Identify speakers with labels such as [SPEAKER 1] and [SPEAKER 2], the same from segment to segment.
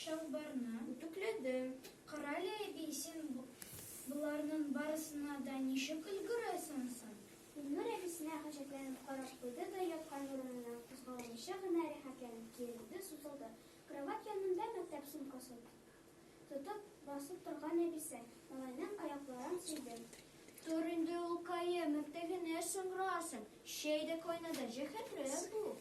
[SPEAKER 1] Чалбарны үтүкләде. Карале, әби, син боларның барысына да ничек өлгерәсең соң? Илнур әбисенә гаҗәпләнеп карап куйды да яткан урыныннан кузгаламыйча гына рәхәтләнеп киерелде, сузылды. Кровать янында мәктәп сумкасын тотып басып торган әбисе, малайның аякларын сөйде. Тор инде, улкаем, иртә генә соңрасың. Чәй дә кайнады, җәһәтрәк бул.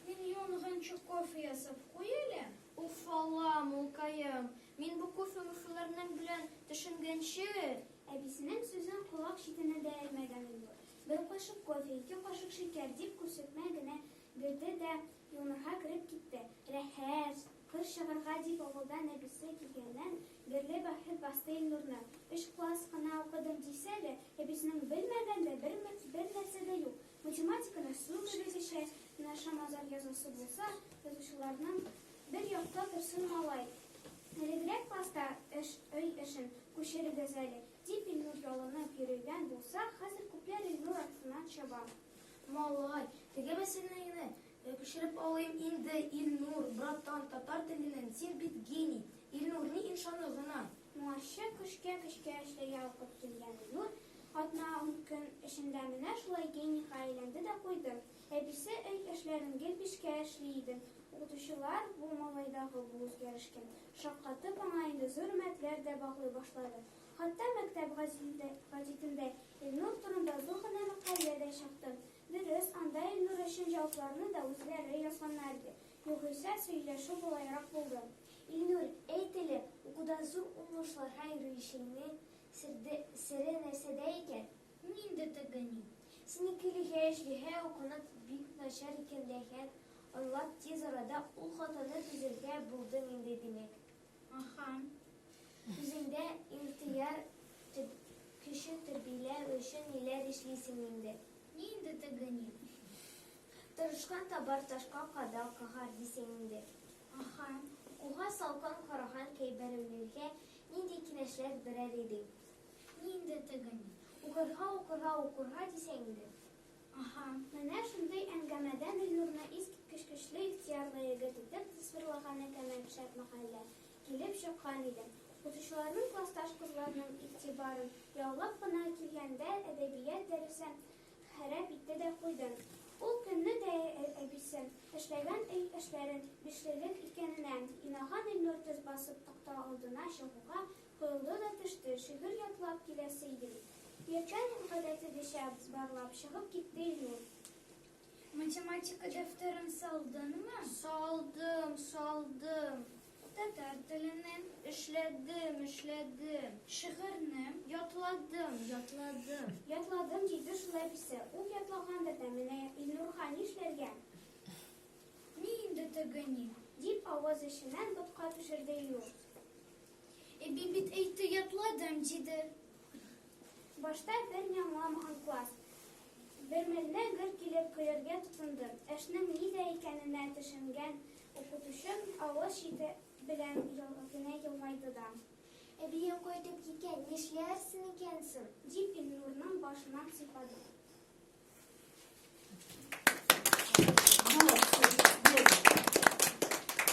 [SPEAKER 1] Мин янгынчы кофе ясап куй әле. Уфалам, улкаем. Мин бу кофе-мөфеләрнең белән төшенгәнче. Әбисенең сүзен колак читенә дә элмәгән Илнур, бер кашык кофе, ике кашык шикәр, дип күрсәтмә генә бирде дә юынырга кереп китте. Рәхәс. Кыр чыгарга дип авылдан әбисе килгәннән бирле бәхет басты Илнурны. Өч класс кына укыдым дисә дә, әбисенең белмәгән дә бер бер нәрсә дә юк. Математиканы су кебегечә генә шамадан язасы булса, язучыларның Бер якта торсын малай, элегрәк класста эш, өй эшен күчерегез әле, дип Илнур ялынып йөрегән булса, хәзер күпләр Илнур артыннан чаба. Малай, теге мәсьәләне Күчереп алыйм инде, Илнур, братан, татар теленен, син бит гений! Илнур, ни иншаны гына! Моңарчы көчкә көчкә эшләргә укып килгән Илнур атна-ун көн эчендә менә шулай генийга әйләнде дә куйды. Әбисе өй эшләрен гел бишкә эшли иде. Укытучылар бу малайдагы бу үзгәрешкә шаккатып, аңа инде зур өметләр дә баглый башлады. Хатта мәктәп гәзитендә Илнур турында зур гына мәкалә дә чыкты. Дөрес, анда Илнур өчен җавапларны да үзләре язганнар иде, югыйсә, сөйләшү болайрак булды. Илнур, әй теле, укуда зур уңышларга йөрүчеңнең серде, сере нәрсәдә икән? Мин дә тегени. Синекелегә эшлиһә, укуны бик начар икәнлеген аңлап, тиз арада ул хатаны төзергә булдың инде, димәк. Ахаһ. Үзеңдә ихтыяр көче тәрбияләү өчен ниләр эшлисең инде? Ни инде теге ни. Тырышкан табар ташка кадал кагар дисең инде. Ахаһ. Укуга салкын караган кәйберәүләргә нинди киңәшләр бирәр идең? Ни инде теге ни. Укырга, укырга, укырга дисең инде. Аһа, менә шундый әңгәмәдә Милнурны искиткеч көчле, ихтыярлы егет итеп тасвирлаган Әкәмәт шәп мәхәллә килеп чыккан иде. Укытучыларның классташ кызларның игътибарын яулап кына килгәндә әдәбият дәресен харап итте дә куйды. Ул көнне дә әбисе, эшләгән өй эшләрен бишлелек икәненә инаган Илнур төз басып такта алдына чыгуга Коелды да төште, шигырь ятлап киләсе иде бит. Пьячанин гадәтедечә барлап чыгып китте Илнур. Математика дәфтәрен салдыңмы? Салдым, салдым. Татар теленен? Эшләдем, эшләдем. Шигырьне? Ятладым, ятладым. Ятладым, диде шулай песе. Ул ятлагандыр да, менә Илнурга нишләргә? Ни инде теге ни? дип авыз эченнән ботка төшерде Илнур. Әби бит әйтте, ятладым, диде. Башта бер ни аңламаган класс. Бермәлне гөр килеп көләргә тотынды. Эшнең нидә икәненә төшенгән укытучы авыз чите белән генә елмайды да. Әбиең кайтып киткән, нишләрсең икән соң? дип Илнурның башыннан сыйпады.